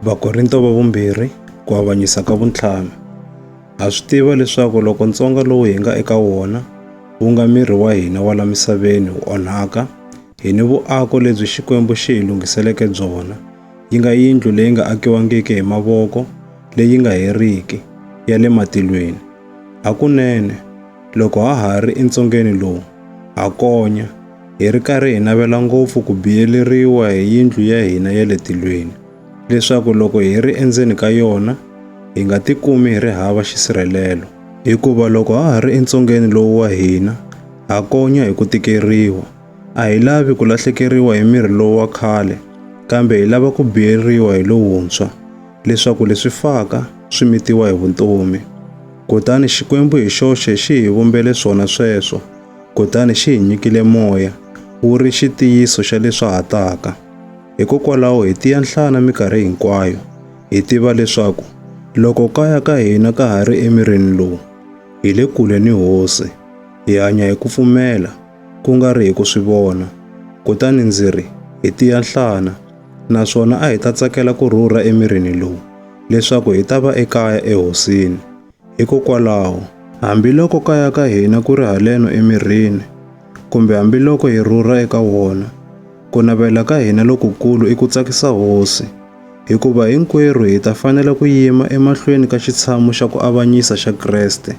Vakorinto va vumbirhi ku avanyisa ka vuntlhanu. Ha swi tiva leswaku loko ntsonga lowu hi nga eka wona wu nga miri wa hina wa la misaveni wu onhaka, hi ni vuako lebyi Xikwembu xi hi lunghiseleke byona, yi nga yindlu leyi nga akiwangiki hi mavoko, leyi nga heriki, ya le matilweni. Hakunene, loko ha ha ri entsongeni lowu, ha konya, hi ri karhi hi navela ngopfu ku biyeleriwa hi yindlu ya hina ya le tilweni, leswaku loko hi ri endzeni ka yona, hi nga tikumi hi ri hava xisirhelelo. Hikuva loko ha ha ri entsongeni lowu wa hina, ha konya hi ku tikeriwa. A hi lavi ku lahlekeriwa hi miri lowu wa khale, kambe hi lava ku biyeriwa hi lowuntshwa, leswaku leswi faka swi mitiwa hi vutomi. Kutani Xikwembu hi xoxe xi hi vumbele swona sweswo. Kutani xi hi nyikile moya, wu ri xitiyiso xa leswi ha taka. Hikokwalaho hi tiya nhlana mikarhi hinkwayo, hi tiva leswaku loko kaya ka hina ka ha ri emirini lowu, hi le kule ni Hosi. Hi hanya hi ku pfumela, ku nga ri hi ku swi vona. Kutani ndzi ri, hi tiya nhlana, naswona a hi ta tsakela ku rhurha emirini lowu, leswaku hi ta va ekaya eHosini. Hikokwalaho, hambiloko kaya ka hina ku ri haleno emirini, kumbe hambiloko hi rhurha eka wona, ku navela ka hina lokukulu i ku tsakisa Hosi, hikuva hinkwerhu hi ta fanela ku yima emahlweni ka xitshamu xa ku avanyisa xa Kreste,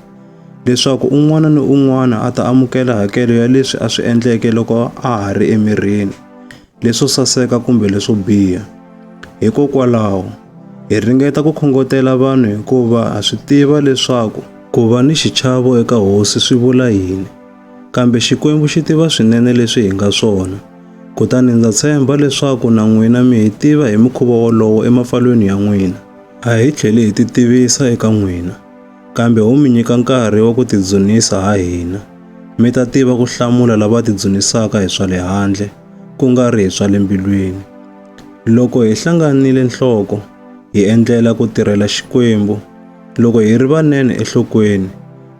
leswaku un'wana ni un'wana a ta amukela hakelo ya leswi a swi endleke loko a ha ri emirini. leswo saseka kumbe leswo biha. Hikokwalaho, hi ringeta ku khongotela vanhu hikuva ha swi tiva leswaku ku va ni xichavo eka hosi swi vula yini. Kambe Xikwembu xi tiva swinene leswi hi nga swona, kutani ndza tshemba leswaku na n'wina mi hi tiva hi mukhuva wolowo emapfalweni ya n'wina. A hi tlheli hi titivisa eka n'wina. kambe u mi nyika nkarhi wa ku tidzunisa ha hina. Mi ta tiva ku hlamula lava tidzunisaka hi swa le handle, ku nga ri hi swa le mbilwini. Loko hi hlanganile nhloko, hi endlela ku tirhela Xikwembu, loko hi ri vanene enhlokweni,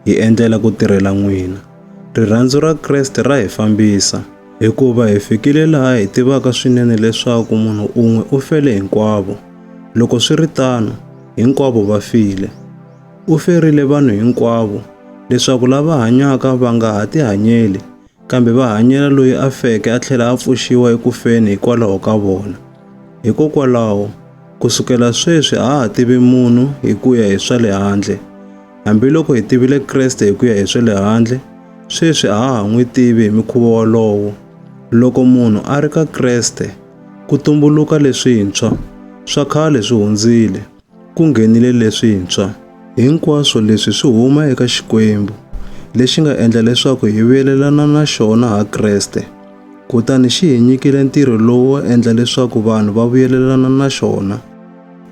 hi endlela ku tirhela n'wina. Rirhandzu ra Kreste ra hi fambisa, hikuva hi fikile laha hi tivaka swinene leswaku munhu un'we u fele hinkwavo. Loko swi ri tano, hinkwavo va file. U ferile vanhu hinkwavo leswaku lava hanyaka va nga ha tihanyeli kambe va hanyela loyi a feke a tlhela a pfuxiwa eku feni hikwalaho ka vona. Hikokwalaho, ku sukela sweswi a ha tivi munhu hi ku ya hi swa le handle. Hambiloko hi tivile Kreste hi ku ya hi swa le handle, sweswi a ha ha n'wi tivi hi mikhuva wolowo. Loko munhu a ri ka Kreste, Ku tumbuluka leswintshwa. Swa khale swi hundzile. Ku nghenile leswintshwa. Hinkwaswo leswi swi huma eka Xikwembu, lexi nga endla leswaku hi vuyelelana na xona ha Kreste, kutani xi hi nyikile ntirho lowu wo endla leswaku vanhu va vuyelelana na xona.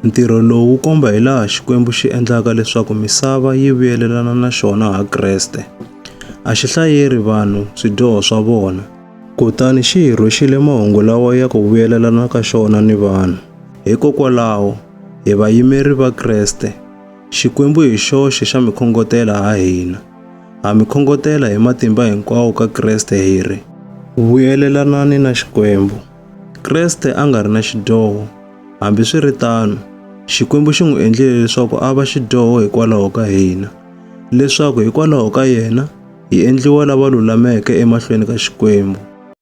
Ntirho lowu wu komba hi laha Xikwembu xi endlaka leswaku misava yi vuyelelana na xona ha Kreste. A xi hlayeri vanhu swidyoho swa vona. Kutani xi hi rhwexile mahungu lawa ya ku vuyelelana ka xona ni vanhu. Hikokwalaho, hi vayimeri va Kreste, Xikwembu hi xoxe xa mi khongotela ha hina. Ha mi khongotela hi matimba hinkwawo ka Kreste hi ri. Vuyelelanani na Xikwembu. Kreste a nga ri na xidyoho, hambi swi ri tano, Xikwembu xi n'wi endlile leswaku a va xidyoho hikwalaho ka hina. leswaku hikwalaho ka yena hi endliwa lava lulameke emahlweni ka Xikwembu.